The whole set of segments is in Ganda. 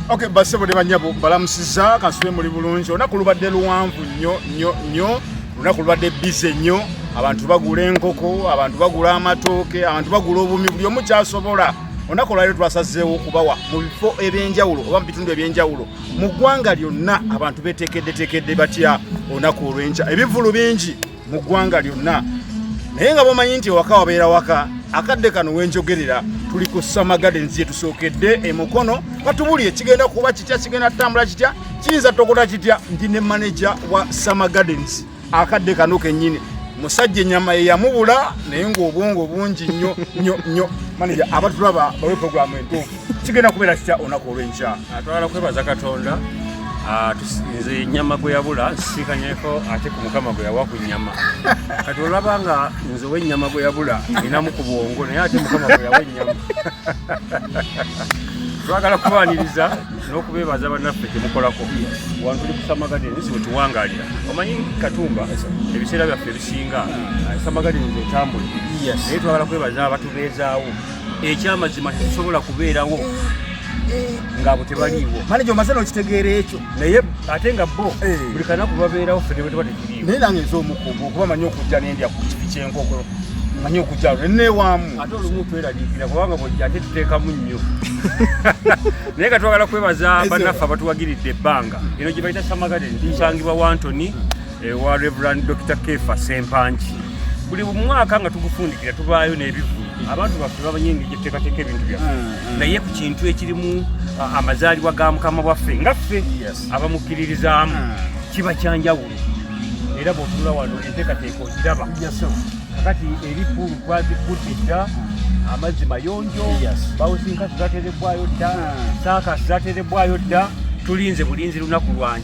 Okay, basse bode banyabo balamusiza kasule muli bulungi olunaku lubadde luwanvu nnyo nnyo nnyo olunaku lubadde bize nnyo abantu bagula enkoko abantu bagula amatooke abantu bagula obumi buli omu kyasobola olunaku olwaliro twasazeewo okubawa mu bifo ebyenjawulo oba mu bitundu ebyenjawulo mu ggwanga lyonna abantu betekeddetekedde batya olunaku olwenkya ebivulu bingi mu ggwanga lyonna naye nga bamanyi nti ewaka wabeera waka akadde kano wenjogerera tuli ku summer gardens gyetusookedde emukono batubuli ekigenda kuba kitya kigenda tutambula kitya kiyinza tokota kitya ndi ne manaja wa summer gardens akadde kano kenyini musajja enyama yeyamubula naye ngaobwongo bungi nyo nyo nyo manaja abatulaba bawe programu entuufu kigenda kubeera kitya olunaku olw'enkya atwala kwebaza katonda ah, nze nyama gwe yabula nsisikanyeko ate ku mukama gwe yawa ku nyama kati olaba nga nze owenyama gwe yabula ninamu ku bwongo naye ate mukama gwe yawa enyama twagala kubaniriza n'okubeebaza bannaffe kyemukolako wantu li kusamagadeni nsi wetuwangalira omanyi katumba ebiseera byaffe ebisinga samagadeni zetambuli naye twagala kwebaza abatubeezaawo ekyamazima tekisobola kubeerawo ngabo tebaliiwo manaja omaze nokitegeera ekyo naye ate nga bo eh. buli kanaku babeerawo ffe nebwe tuba tekiriiwo naye nange nze omukugu okuba manyi okujja nendya ku kifi kyenkoko manyi okujja neneewaamu ate olumu tweraliikira kubanga bwojja ate tuteekamu nnyo naye nga twagala kwebaza bannaffe abatuwagiridde ebbanga eno gye bayita samagadeni tunsangibwa wantoni ewa Reverend Dr. Kefa Sempanji buli mwaka nga tugufundikira tubaayo n'ebivulu abantu baffe bamanyi engeri gyetuteekateeka ebintu byaffe mm, mm. naye ku kintu ekirimu amazaalibwa ga mukama waffe nga ffe abamukkiririzaamu mm. kiba kyanjawulo era bwotula wano enteekateeka ogiraba kakati eri pulu twazikudde dda amazzi mayonjo bawusinkasi zaterebwayo dda saakasi zaterebwayo dda tulinze bulinzi lunaku lwanj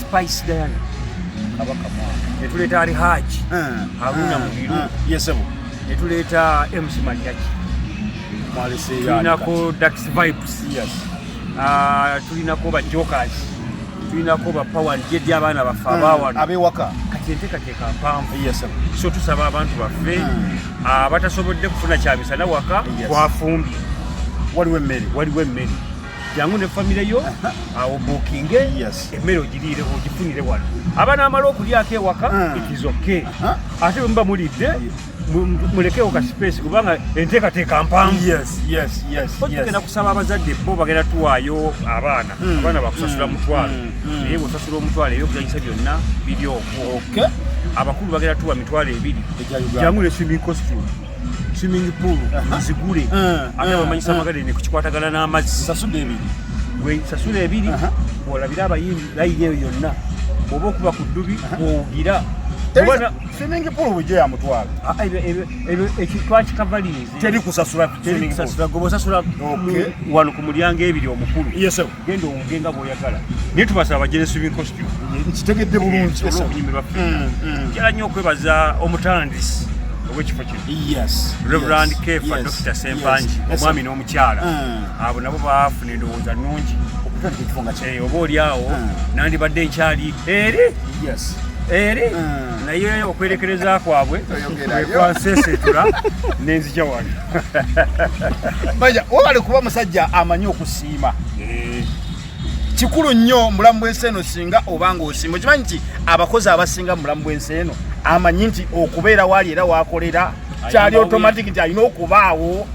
Spice Diana kabaka mwana netuleeta ali haji haruna mubiru yesebo netuleeta mc manyaki tulinako dax vibes ah, tulinako ba jokers tulinako ba power jedi abaana baffe hmm. abawano abewaka kati enteekateeka mpanvu so tusaba abantu baffe hmm. abatasobodde ah, kufuna kyamisana waka twafumbye waliwo emmere waliwo emmere jangu ne famire yo awo bukinge emmere ogiriire ogifunire wano aba n'amala okulyako ewaka ah. ikizoke ah. ate muba mulidde mulekewo ka space kubanga enteekateeka mpangugenda kusaba abazadde bo bagenda tuwaayo abaana hmm. abaana bakusasula hmm. mutwalo hmm. naye bwosasula omutwalo eyo okuzanyisa byonna biri okwo abakulu bagenda tuwa mitwalo ebiri jangu ne swimming costume swimming pool nzigule eh, eh, ate bamanyisa eh. amagadeni kukikwatagana n'amazzi sasula ebiri sasula ebiri olabire abayimbi layiri eyo yonna oba okuba ku ddubi owugira swimming pool bujjo yamutwala ah, ekitwakikavaliizi teri kusasula goba osasula wano ku mulyango ebiri omukulu genda owunge nga bwoyagala naye tubasaba bajeresu binkosti nkitegedde bulungi okunyumirwa ffe mm, mm. njala nnyo okwebaza omutandisi owekifo kino reverand kefa dr sempangi omwami n'omukyala mm. abo nabo baafuna endowooza nnungi okutandika ekifo nga kye eh, oba oli awo nandibadde nkyali eri eri naye okwerekereza kwabwe kwekwansesetura nenzija wano mbaja wabale kuba musajja amanyi okusi okusiima eh. kikulu nnyo mubulamu bwensi eno singa obanga osiima okimanyi nti abakozi abasinga mubulamu bwensi eno amanyi nti okubeera waali era wakolera kyali automatic nti alina okubaawo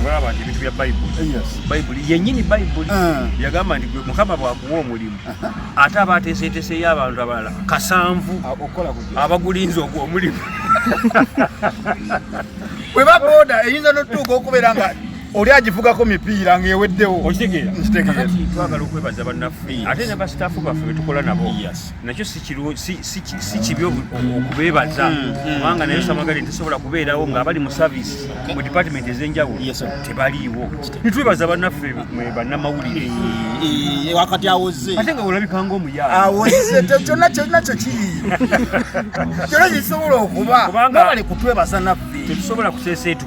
olaba nti ebintu bya bayibuli bayibuli yenyini bayibuli ah. yagamba nti mukama bwakuwa omulimu uh-huh. ate aba ateeseeteseyo abantu abalala kasanvu ah, abagulinza ogwo omulimu bwe baboda eyinza notuuka okubeera nga oli agivugako mipiira ng'eweddewo okitegeera kakati twagala okwebaza bannaffe ate ne basitaafu baffe betukola nabo nakyo si kibi okubeebaza mm, mm, kubanga naye mm. samagali tesobola kubeerawo ng'abali mu saviisi mu dipatimenti ez'enjawulo tebaliiwo nitwebaza bannaffe bannamawulire wakati awoze ate nga olabika ngaomuyaawozze kyonna kyonna kyo kiri kyonna kisobola okuba kubanga bali kutwebaza naffe tetusobola kuseeseetu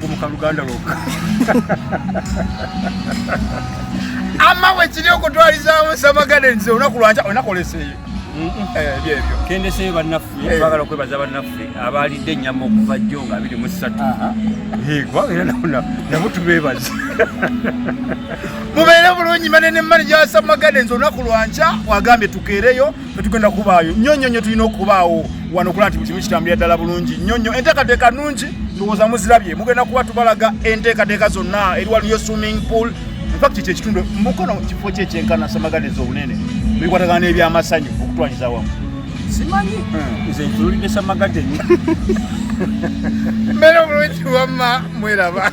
kumuka luganda lwokka ama wekiri okutwalizaawo samagade nze olunaku lwanca onakoleseeyo eh, byebyo kendeseeyo bannaffe eh. twagala okwebaza bannaffe abaalidde ennyama okuva jjo nga abiri mu ssatu kubanga era nabo tubeebaza mubeere bulungi manene manaja wa samagade nze olunaku lwanca wagambye tukeereyo tetugenda kubaayo nnyo nnyo nnyo tulina okubaawo wano okulaba nti buli kimu kitambulira ddala bulungi nnyo nnyo enteekateeka nnungi ndowooza muzirabye mugenda kuba tubalaga enteekateeka zonna eri waliyo swimming pool infact ekyo ekitundu mukono kifo kye kyenkana samaganiza obunene bikwatagana n'ebyamasanyu okutwaliza wamu simanyi hmm. nze ntululidde samagadeni mbeera obulungi wamma mweraba